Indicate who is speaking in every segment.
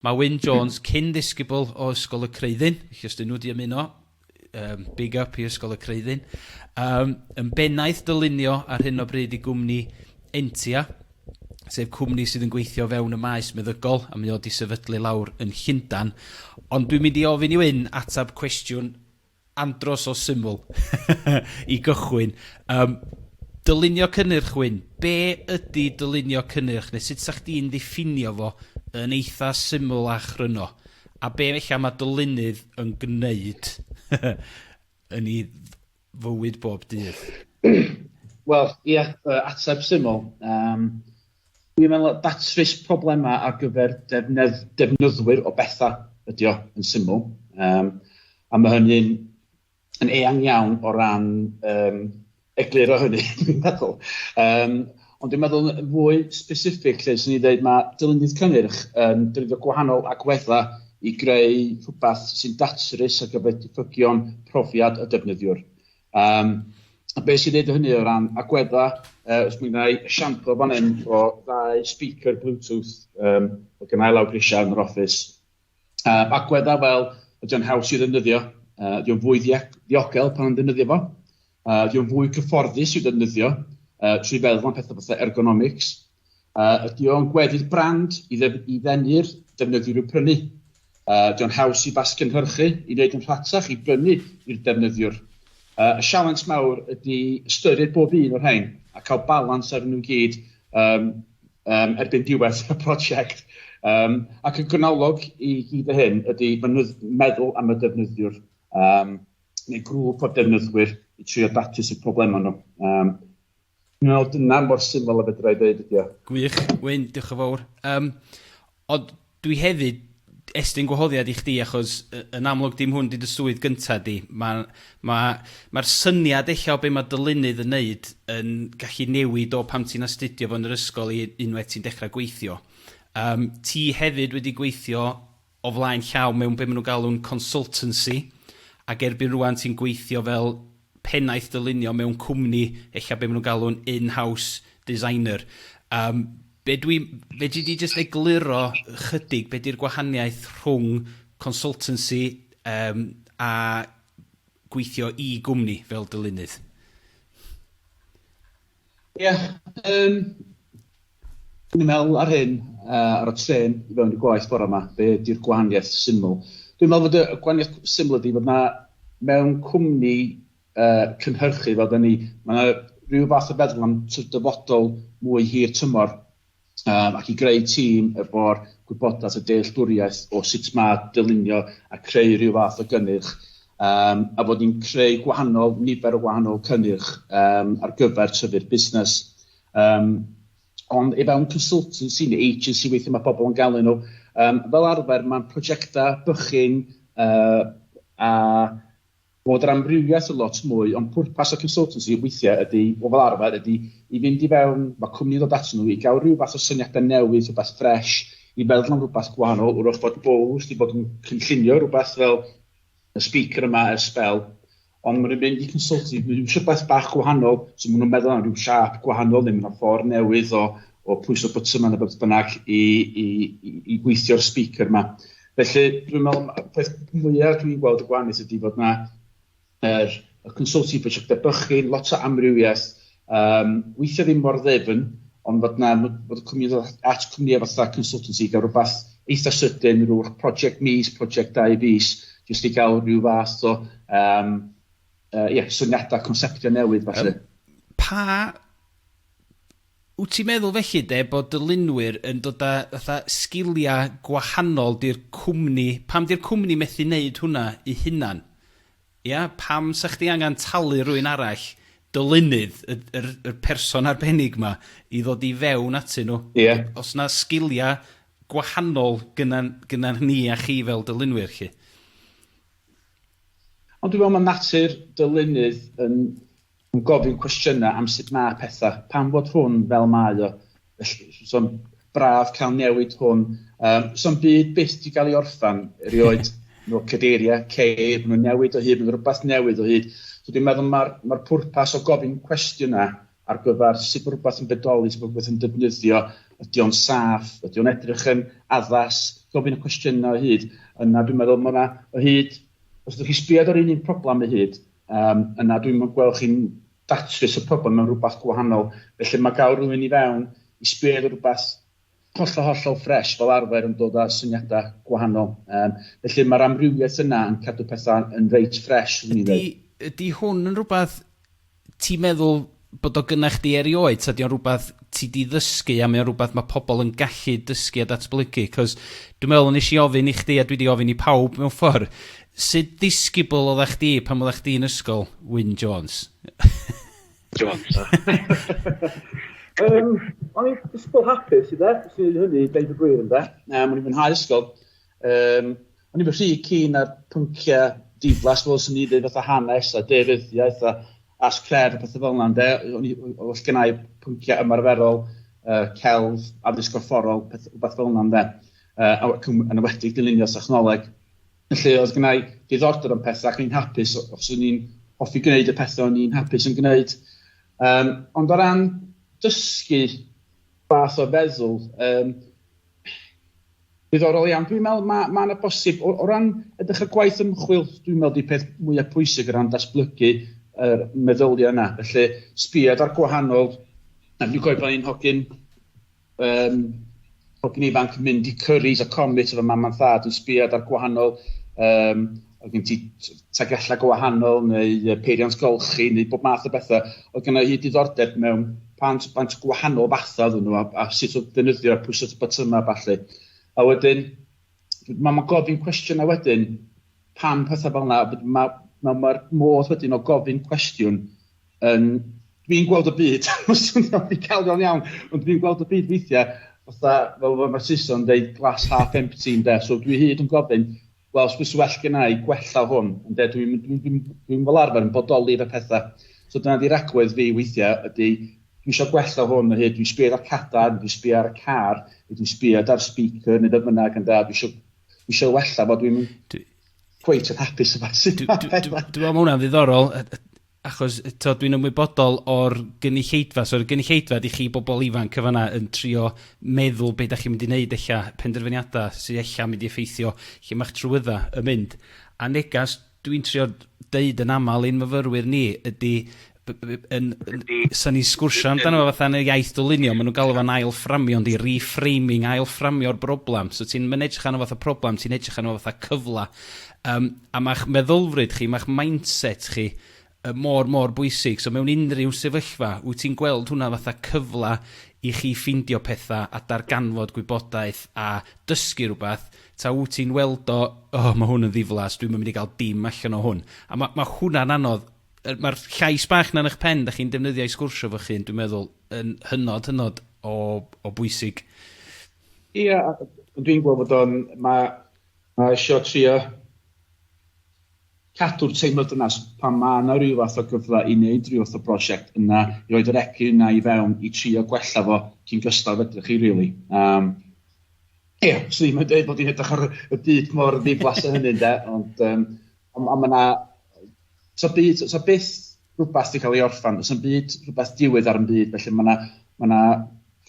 Speaker 1: Mae Wyn Jones, cyn-ddisgybl o Ysgol y Creuddyn, felly os 'dyn nhw 'di ymuno, um, big up i Ysgol y Creuddyn, um, yn bennaeth dylunio ar hyn o bryd i gwmni Entia, sef cwmni sydd yn gweithio fewn y maes meddygol, a mae o wedi sefydlu lawr yn Llundan. Ond dwi'n mynd i ofyn i Wyn atab cwestiwn Andros o syml i gychwyn. Yym, dylunio cynnyrch, Wyn. Be ydi dylunio cynnyrch, neu sut 'sa chdi'n ddiffinio fo yn eitha syml a chryno? A be ella mae dylunydd yn gwneud yn ei fywyd bob dydd?
Speaker 2: Wel, ia, yy ateb syml, yym, Dwi'n meddwl na datrys problemau ar gyfer defnyddwyr o bethau ydy o, yn syml. Um, a mae hynny'n yn eang iawn o ran um, egluro hynny, dwi'n meddwl. Um, ond dwi'n meddwl yn fwy specific lle sy'n ni dweud mae dylunydd cynnyrch yn defnyddio gwahanol agweddau i greu rhywbeth sy'n datrys ar gyfer diffygion profiad y defnyddiwr. Um, a beth sy'n neud hynny o ran agwedda, uh, os mi wna i siamplo fan hyn o ddau speaker Bluetooth um, o gynnau lawr grisiau yn yr office. Uh, agwedda fel ydy'n haws i ddefnyddio, uh, ydy'n fwy ddiogel pan yn ddefnyddio fo, uh, ydy'n fwy cyfforddus i ddefnyddio, uh, trwy feddwl am pethau fatha ergonomics, Uh, ydy o'n gweddill brand i, ddef, i ddenu'r defnyddiwr i'w prynu? Uh, ydy o'n haws i basgynhyrchu i wneud yn rhatach i brynu i'r defnyddiwr? Uh, y sialens mawr ydy ystyried bob un o'r rhain a cael balans ar nhw gyd um, um, erbyn diwedd y prosiect. Um, ac y gwynolog i gyd o hyn ydy meddwl am y defnyddiwr um, neu grŵp o defnyddwyr i trio datrys y problemau nhw. Um, No, dyna mor syml a fedra i ddeud ydi o. Gwych, Wyn, diolch
Speaker 1: yn fawr. Um, ond dwi hefyd estyn gwahoddiad i chdi achos yn amlwg dim hwn di dy swydd gynta di. Mae'r ma, ma syniad eich o be mae dylunydd yn neud yn gallu newid o pam ti'n astudio fo'n yr ysgol i unwaith ti'n dechrau gweithio. Um, ti hefyd wedi gweithio o flaen llaw mewn be maen nhw'n galw'n consultancy, ac erbyn rŵan ti'n gweithio fel pennaeth dylunio mewn cwmni, ella be maen nhw'n galw'n in-house designer. Yym, be dwi... fedri di jyst egluro ychydig be di'r gwahaniaeth rhwng consultancy yym a gweithio i gwmni fel dylunydd?
Speaker 2: Ie, yym, dwi'n i'n meddwl ar hyn, uh, ar y tren i fewn i gwaith bore yma, be ydy'r gwahaniaeth syml? Dwi'n meddwl bod y gwahaniaeth syml ydy bod na mewn cwmni uh, cynhyrchu fel da ni, mae yna rhyw fath o feddwl am dyfodol mwy hir tymor um, ac i greu tîm efo'r gwybodaeth a dealltwriaeth o sut mae dylunio a creu rhyw fath o gynnyrch, um, a fod ni'n creu gwahanol nifer o wahanol cynnyrch um, ar gyfer tyfu'r busnes. Um, ond efo un consultancy neu agency weithio mae pobl yn galw nhw, um, fel arfer mae'n prosiectau bychyn uh, a Bod yr amrywiaeth yn lot mwy, ond pwrpas y consultancy weithiau ydy, o fel arfer, ydy i fynd i fewn, mae cwmni'n dod atyn nhw i gael rhyw fath o syniadau newydd, rhywbeth ffresh, i feddwl am rhywbeth gwahanol, wrach bod Bowles wedi bod yn cynllunio rhywbeth fel y speaker yma ers sbel, ond maen nhw'n mynd i consultancy, maen nhw'n eisiau beth bach gwahanol, so maen nhw'n meddwl am rhyw siap gwahanol neu maen nhw'n ffordd newydd o, o pwyso button yma neu beth bynnag i, i, i, i gweithio'r speaker yma. Felly, dwi'n meddwl, y peth mwyaf dwi'n gweld y gwahaneth ydy bod yna yr, y consulting prosiectau bychin, lot o amrywiaeth, um, weithio ddim mor ddefn, ond bod yna, bod y cwmni at cwmnïau fatha consultancy i gael rhywbeth eitha sydyn, rhywbeth prosiect mis, prosiect dau fus, jyst i gael rhyw fath o, um, uh, yeah, syniadau, conceptio newydd, falle. Um, pa
Speaker 1: Wt ti'n meddwl felly de bod dylunwyr yn dod a fatha sgiliau gwahanol di'r cwmni, pam di'r cwmni methu neud hwnna i hunan? Ia? Pam sa chdi angan talu rywun arall, dylunydd, y yr yr person arbennig ma, i ddod i fewn atyn nhw? Ia. Os na sgiliau gwahanol gynnan gynnan ni a chi fel dylunwyr 'lly.
Speaker 2: Ond dwi'n meddwl ma' natur dylunydd yn Yn gofyn cwestiynau am sut mae pethau, pam fod hwn fel mae o, felly. So'n braf cael newid hwn. Um, so'n byd byth di gael ei orffan, erioed. no cadeiriau, ceir, maen nhw'n newid o hyd, maen rhywbeth newydd o hyd. So dwi'n meddwl mae'r ma pwrpas o gofyn cwestiynau ar gyfer sut mae rhywbeth yn bedoli, sut mae rhywbeth yn defnyddio, ydy o'n saff, ydy o'n edrych yn addas, gofyn y cwestiynau o hyd. Yna dwi'n meddwl mae yna o hyd, os ydych chi sbiad ar un un problem o hyd, Yym, na, dwi'm yn gweld chi'n datrys y problem mewn rhywbeth gwahanol. Felly mae gael rhywun i fewn i sbio ar rhywbeth hollol, hollol ffresh fel arfer yn dod â syniadau gwahanol. Yym, felly mae'r amrywiaeth yna yn cadw pethau yn reit ffresh, swn i'n dweud. Ydy, ydy
Speaker 1: hwn yn rhywbeth ti'n meddwl bod o gynnach chdi erioed, ta di o'n rhywbeth ti di ddysgu a mae o'n rhywbeth mae pobl yn gallu dysgu a datblygu? Cos dwi'n meddwl yn eisiau ofyn i chdi a dwi di ofyn i pawb mewn ffordd, sydd disgybl o dda chdi pan oeddech chdi'n ysgol, Wyn Jones? Jones.
Speaker 2: um, o'n i'n disgybl hapus i dde, sy'n ei hynny, deud y gwir yn dde. Um, o'n i'n fwynhau ysgol. Yym, o'n i'n rhy keen ar pynciau diflas fel sy'n ni dweud fatha hanes a deiryddiaeth a as cref a pethau fel yna, ynde? O'n i, os gen i pynciau ymarferol, uh, celf, addysg gorfforol, peth, rhywbeth fel yna, ynde? Uh, yn ywedig dylunio technoleg. Felly, oedd gen i diddordeb yn pethau ac o'n i'n hapus os o'n i'n hoffi gwneud y pethau o'n i'n hapus yn gwneud. Um, ond o ran dysgu fath o feddwl, um, Diddorol iawn. Dwi'n meddwl mae ma yna bosib, o, o ran edrych ar gwaith ymchwil, dwi'n meddwl di peth mwyaf pwysig o ran datblygu yr meddyliau yna. Felly, sbiad ar gwahanol... Dwi'n gwybod bod ni'n hogyn um, hogyn ifanc yn mynd i Curry's a Comet efo mam a thad yn sbiad ar gwahanol um, oedd gen ti tagellau go wahanol neu peiriant golchi neu bob math o bethau. Oedd gen i hyd diddordeb mewn pant, pant gwahanol fathau oedden nhw a, a sut oedd defnyddio a pwysau botymau a falle. A wedyn, mae ma gofyn cwestiynau wedyn, pam pethau fel yna, mae'r ma, ma modd wedyn o gofyn cwestiwn yn... Dwi'n gweld y byd, mae'n swnio'n ddigalon iawn, ond dwi'n gweld y byd weithiau, fatha, fel mae Saeson yn dweud, glass half empty yn de, so dwi hyd yn gofyn, Wel, os byse well genna i gwella hwn, ynde, dwi'n, dwi'n, dwi'n, dwi'n fel arfer yn bodoli fe pethau. So dyna di ragwedd fi weithiau, ydy, dwi eisiau gwella hwn o hyd, dwi'n sbio ar cadar, dwi'n sbio ar y car, dwi'n sbio ar speaker, neu beth bynnag, ynde, dwi eisiau, dwi eisiau wella fo, dwi'n cweit yn hapus yma. Dwi'n meddwl
Speaker 1: mae hwnna'n ddiddorol, achos t'od dwi'n ymwybodol o'r gynulleidfa, so yr gynulleidfa ydi chi bobl ifanc yn fan 'na yn trio meddwl be' 'dach chi'n mynd i neud ella, penderfyniada sy ella'n mynd i effeithio lle ma'ch trwydda yn mynd. A negas dwi'n trio deud yn amal i'n myfyrwyr ni ydi b- b- yn yn sa ni'n sgwrsio amdano fo fatha yn y iaith dylunio ma' nhw'n galw fo'n ail fframio yndi reframing ail fframio'r broblam so ti'n ma'n edrych arno fatha problem ti'n edrych arno fatha cyfla Yym, a ma'ch meddylfryd chi, ma'ch mindset chi yy mor, mor bwysig. So mewn unrhyw sefyllfa, wyt ti'n gweld hwnna fatha cyfle i chi ffindio petha a darganfod gwybodaeth a dysgu rwbath, ta wyt ti'n weld o, O, ma' hwn yn ddiflas, dwi'm yn mynd i gael dim allan o hwn? A ma' ma' hwnna'n anodd. Yy ma'r llais bach 'na yn 'ych pen 'dach chi'n defnyddio i sgwrsio efo'ch hun, dwi'n meddwl, yn hynod, hynod o o bwysig. Ia,
Speaker 2: a dwi'n gweld bod o'n, ma', A isio trio cadw'r teimlad dynas pan mae yna rhyw fath o gyfle i wneud rhyw fath o brosiect yna i roid yr egni yna i fewn i trio gwella fo cyn gystal fedrwch chi rili. Yym ia, swn i'm yn deud bod hi'n edrych ar y byd mor ddiflas a hynny ynde ond yym ond ma' 'na so byd, so, so byth rhywbeth wedi cael ei orffan, so byd rhywbeth diwedd ar y byd, felly mae yna ma, na,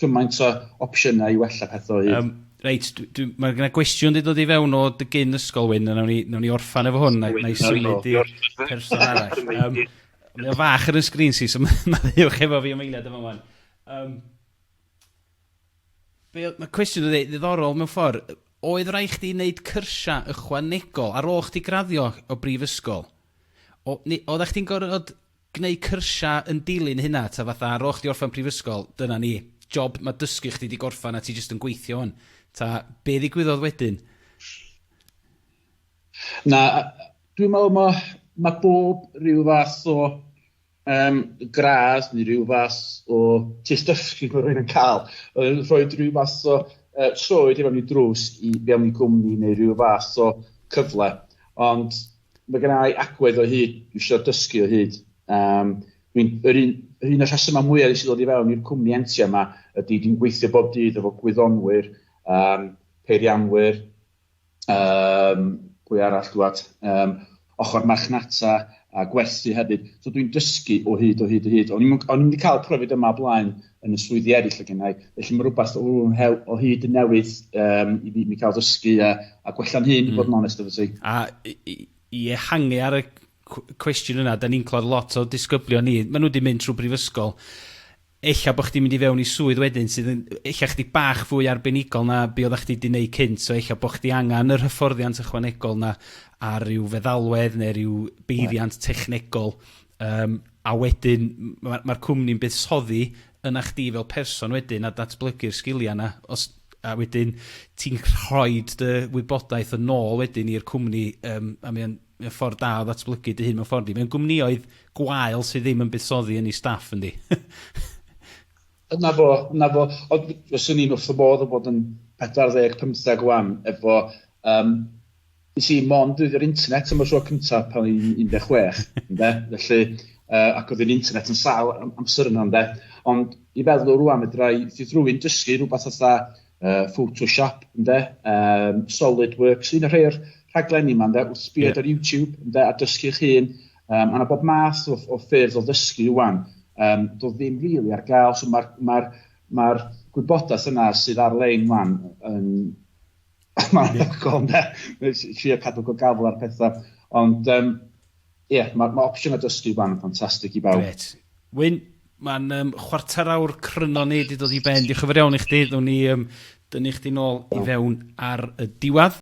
Speaker 2: cymaint o opsiynau i wella pethau o hyd. Um, reit, mae
Speaker 1: yna gwestiwn wedi dod i fewn o dy gyn ysgol wyn, a nawn ni, nawn ni orffan efo hwn, na'i symud i person arall. Um, mae o fach ar y sgrin si, so mae'n ddiwch efo fi am eiliad efo hwn. Um, Be oedd... Mae cwestiwn yn ddiddorol mewn ffordd. Oedd rhaid chdi wneud cyrsiau ychwanegol ar ôl chdi graddio o brifysgol? O, neu oeddech chdi'n gorfod gwneud cyrsiau yn dilyn hynna, ta fatha ar ôl chdi orffen prifysgol, dyna ni, job, mae dysgu chdi wedi gorffen a ti jyst yn gweithio hwn. Ta, be ddigwyddodd wedyn?
Speaker 2: Na, dwi'n meddwl mae, mae bob rhyw fath o um, gradd neu rhyw fath o test dysgu mae rhywun yn cael. Oedd rhoi rhyw fath o uh, troed i fewn i drws i fewn i gwmni neu rhyw fath o cyfle. Ond mae gen i agwedd o hyd, dwi eisiau dysgu o hyd. Um, dwi'n, yr un, yr un o'r rhesymau mwyaf sy'n dod i fewn i'r cwmni entia yma ydy dwi'n gweithio bob dydd efo gwyddonwyr, um, peirianwyr, Um, pwy arall dwad? Um, ochr marchnata a gwerthu hefyd. So dwi'n dysgu o hyd, o hyd, o hyd. O'n i'n mynd i cael profiad yma blaen yn y swyddi eraill o gennau, felly mae rhywbeth o, o hyd yn newydd um, i mi, mi cael dysgu a, a gwella'n hyn, mm. bod yn onest efo ti. A
Speaker 1: i ehangu ar y cwestiwn yna, da ni'n clod lot o disgyblion ni, maen nhw wedi mynd trwy brifysgol, ella bo' chdi'n mynd i fewn i swydd wedyn sydd yn ella chydig bach fwy arbenigol na be' oddach chdi 'di neud cynt, so ella bo' chdi angan yr hyfforddiant ychwanegol 'na a ryw feddalwedd ne' ryw beiriant technegol yym a wedyn m- ma' ma'r cwmni'n buddsoddi yna chdi fel person wedyn a datblygu'r sgilia 'na os a wedyn ti'n rhoid dy wybodaeth yn ôl wedyn i'r cwmni yym a mae o'n Mae o'n ffordd da o ddatblygu dy hun mewn ffordd yndi. Mewn gwmnïoedd gwael sydd ddim yn buddsoddi yn ei staff yndi?
Speaker 2: Dyna fo, dyna fo. Ond fyswn i'n wrth fy modd o fod yn 40, 50 ŵan efo yym nes i mond defnyddio'r internet am y tro cynta pan o'n i'n 16 ynde? Felly yy ac oedd yr internet yn sâl am- amser yna ynde? Ond i feddwl rŵan fedra i fyth rywun dysgu rhywbeth fatha uh, Photoshop, ynde, um, SolidWorks, un o'r rhai o'r rhaglenni yma, ynde, wrth sbio yeah. ar YouTube, ynde, a dysgu'ch hun, um, a na bob math o, o ffyrdd o ddysgu wan, um, do ddim rili really ar gael, so mae'r ma ma, gwybodaeth yna sydd ar-lein wan yn... Mae'n anhygoel, ynde, trio cadw go gafel ar pethau, ond um, Ie, yeah, mae ma opsiynau dysgu fan yn ffantastig i bawb. Gret. Wyn,
Speaker 1: mae'n um, chwarter awr cryno ni wedi dod i ben. Diolch yn fawr iawn i chdi. Ddown ni um, dynnu chdi nôl i fewn ar y diwedd.